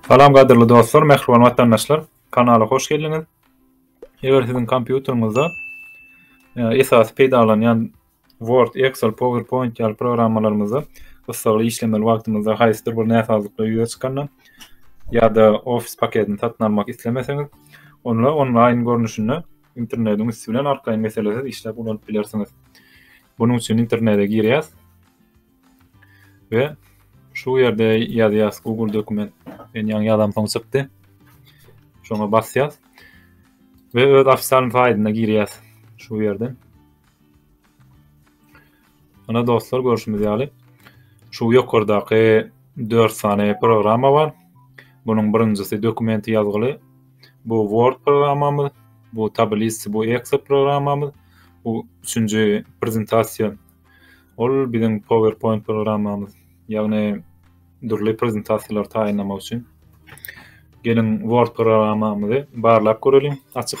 Salam gadyrly dostlar, mähriban watandaşlar. Kanala hoş geldiňiz. Eger siziň kompýuteriňizde e, esas peýdalanýan Word, Excel, PowerPoint ýaly programmalarymyzda gyssagly işlemeli wagtymyzda haýsydyr bir näsazlyklar ýüze çykanda ýa-da Office paketini satyn almak islemeseňiz, onda onlaýn görnüşinde internediň üsti bilen arkaýyn meselesiz işläp ulanyp bilersiňiz. Bunuň üçin internete girýäs we şu ýerde ýazýas Google dokument. Men ýaňy ýazam soň çykdy. Şoňa basýas we öz ofitsial saýtyna girýäs şu ýerden. Ine dostlar, görşümiz ýaly, şu ýokardaky dört sany programma bar. Bunuň birinjisi dokumenti ýazgyly. Bu Word programmamyz, bu Tablice, bu Excel programmamyz, bu üçünji prezentasiýa. Ol biziň PowerPoint programmamyz. Ýagny dürli prezentasiýalary taýynlamak üçin. Geliň Word programmamyzy barlap göreliň, açyp.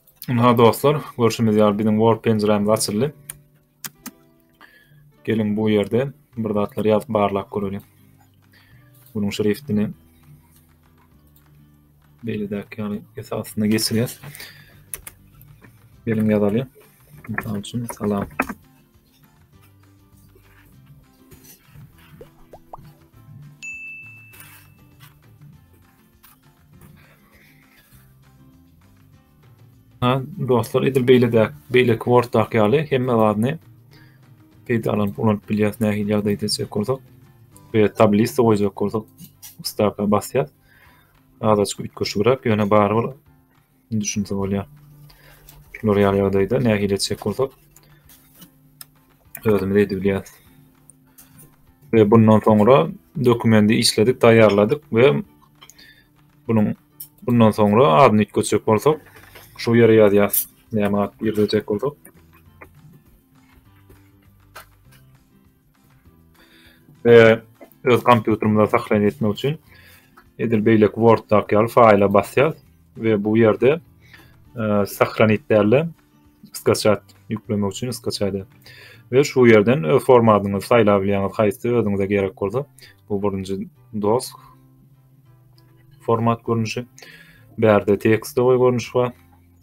Ynha dostlar, görşümiz ýaly biziň Word penjirämiz açyldy. Geliň bu ýerde bir zatlar ýazyp barlap göreliň. Bunuň şriftini beýledäki ýaly esasyna geçirýäs. Geliň ýazalyň. Mysal üçin salam. Ha, dostlar, edil beýle-de, beýle kwortdak ýaly hemme zadyny peýdalanyp ulanyp bilýäs. Nähili ýagdaý edecek bolsak, we tablista goýjak bolsak, staka basýas. Azajyk üýtgeşigräk, ýöne barybir Indi düşünse bolýar. Şular ýaly ýagdaýda nähili etjek bolsak, özümiz edip bilýäris. Ve bundan soňra dokumenti işledik, taýýarladyk ve bunun bundan soňra adyny üýtgetjek bolsak, şu ýere ýazýarys. Näme at girjek bolsak. we öz kompýuterimde sahlany etmek üçin edil beýleki Worddaky ýaly faýla basýas we bu ýerde sahlany etdärle skaçat ýüklemek üçin skaçady we şu ýerden öz formatyňyzy saýlap bilýäňiz haýsy özüňize gerek bolsa bu birinji dosk format görnüşi bärde tekst goý görnüşi bar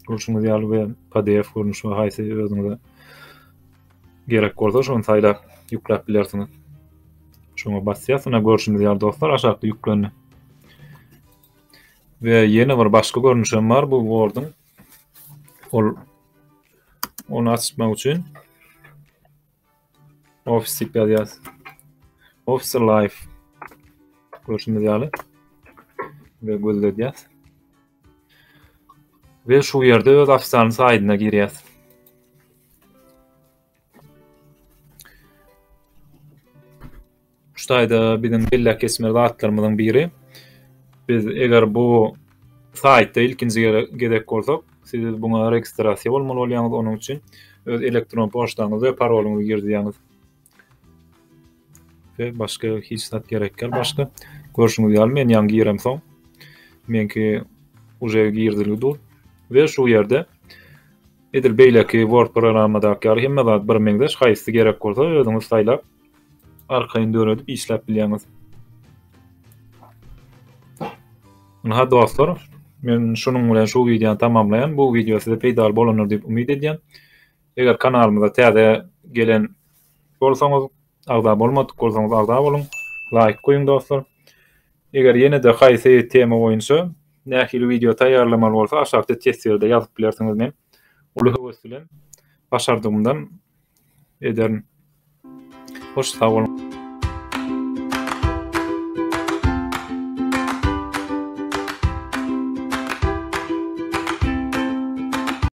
görşüňiz ýaly we pdf görnüşi bar haýsy özüňize Gerek bolsa şony saýlap ýükläp bilersiňiz. Şoňa basýas, ine görşüňiz ýaly dostlar aşakda ýüklendi. Ve ýene bir başga görnüşem bar bu Word'un. Ol onu açmak üçin Office diýip ýazýas. Office Live görşüňiz ýaly ve gözledýäs. We şu ýerde öz ofitsial saýdyna girýäs. Şu taýda biziň belläp geçmeli zatlarymyzyň biri. Biz eger bu saýtda ilkinji gezek bolsak, siz buňa registrasiýa bolmaly bolýaňyz. Onuň üçin öz elektron poçtaňyzy we parolyňyzy girizýäňiz. we başga hiç zat gerek däl başga. Görşüňiz ýaly men ýaňy giremsoň meňki uje girdilgi dur we şu ýerde edil beýleki Word programmadaky ýaly hemme zat bir meňzeş haýsy gerek bolsa özüňiz saýlap arkaýyn döredip işläp bilýäňiz. Ynha dostlar men şunuň bilen şu wideony tamamlaýan bu wideo size peýdaly bolandyr diýip umyt edýän. Eger kanalymyza täze gelen bolsaňyz, agza bolmadyk bolsaňyz agza boluň, laýk goýuň dostlar. Eger ýene-de haýsy tema boýunça nähili wideo taýýarlamaly bolsa aşakda teswirde ýazyp bilersiňiz men uly höwes bilen başardygymdan ederin. Hoş sag boluň.